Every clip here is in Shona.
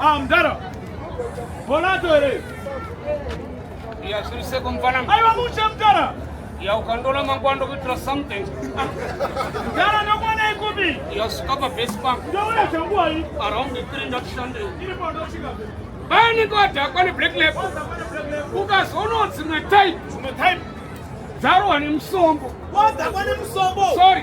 Ah, mdara. Bolato here? Ya siri seko mfana. Aiwa mushe mdara. Ya ukandola mangwando kuitira something. Mdara ndomwana ikubi. Ya sukapa base bank. Ndoona changu hai. Around 3 ndakushande. Iri pa ndoshika. Bani kwa dakwa ni black lab. Ukazono dzimwe type. Dzimwe type. Dzaro wani msombo. Wadakwa ni msombo. Sorry.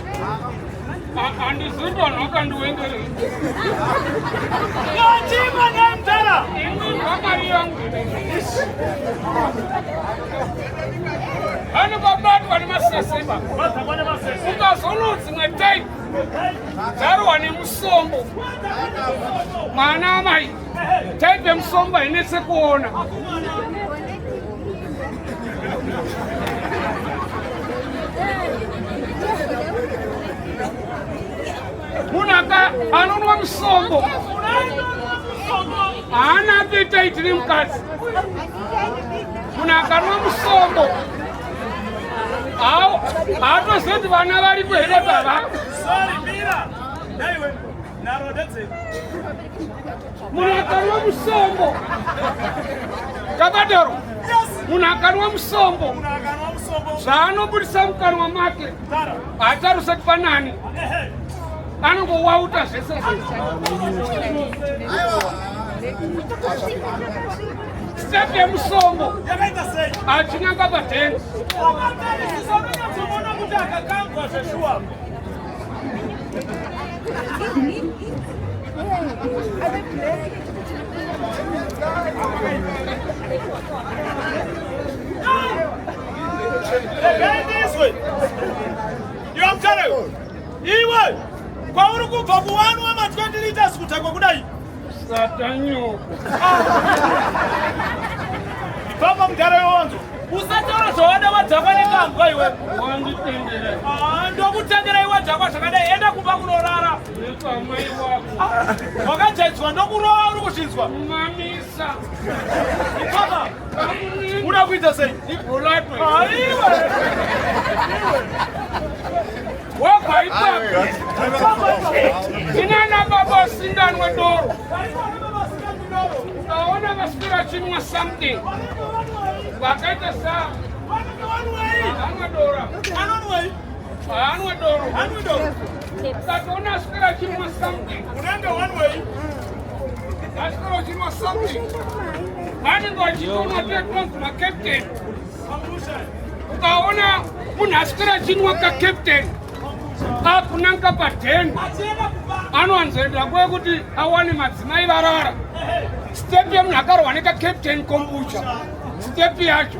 Andiziva nhaka ndiwengere. Yochima nemdala. Ini nhaka yangu. Ani babatwa nemasese ba. Babatwa nemasese. Ukazono dzimwe time. Dzarwa nemusombo. Mwana amai. Type yemusomba hainetse kuona. Munhu aka anonwa musombo haana apeta itiri mukadzi. Munhu akanwa musombo haatozivi kuti vana varipo here baba. Sorry, Mira. Dai we, naro that's it. munhu akarwa musombo takadaro munhu akarwa musombo zvaanobudisa mukanwa make hatarise kupa nani anongowauta zvese step yemusombo achinanga padenga Iwe kwauri kubva kuwanwa ma 20 liters kudhakwa kudai Satanyoko. Baba mudhara yonzo. Usataura zvawada wadzakwa nekambwa iwe. Wanditendera. Ah, ndokutendera iwe dzakwa zvakadai enda kumba kunorara. Nekamwe iwako. Wakajaidzwa ndokurova uri kuzvinzwa. Mamisa. Baba. Unakuita sei? Ibhulato. Aiwe. Ah, wobva ipapo inana baba usinganwe doro ukaona vaswira chinwa something vakaita sa vanenge vachitoona tetonzi macaptain ukaona munhu aswera achinwa kacaptain akunanga padhen anowanzoenda kuve kuti awane madzimai varara step yemunhu akarwa nekacaptain kombucha step yacho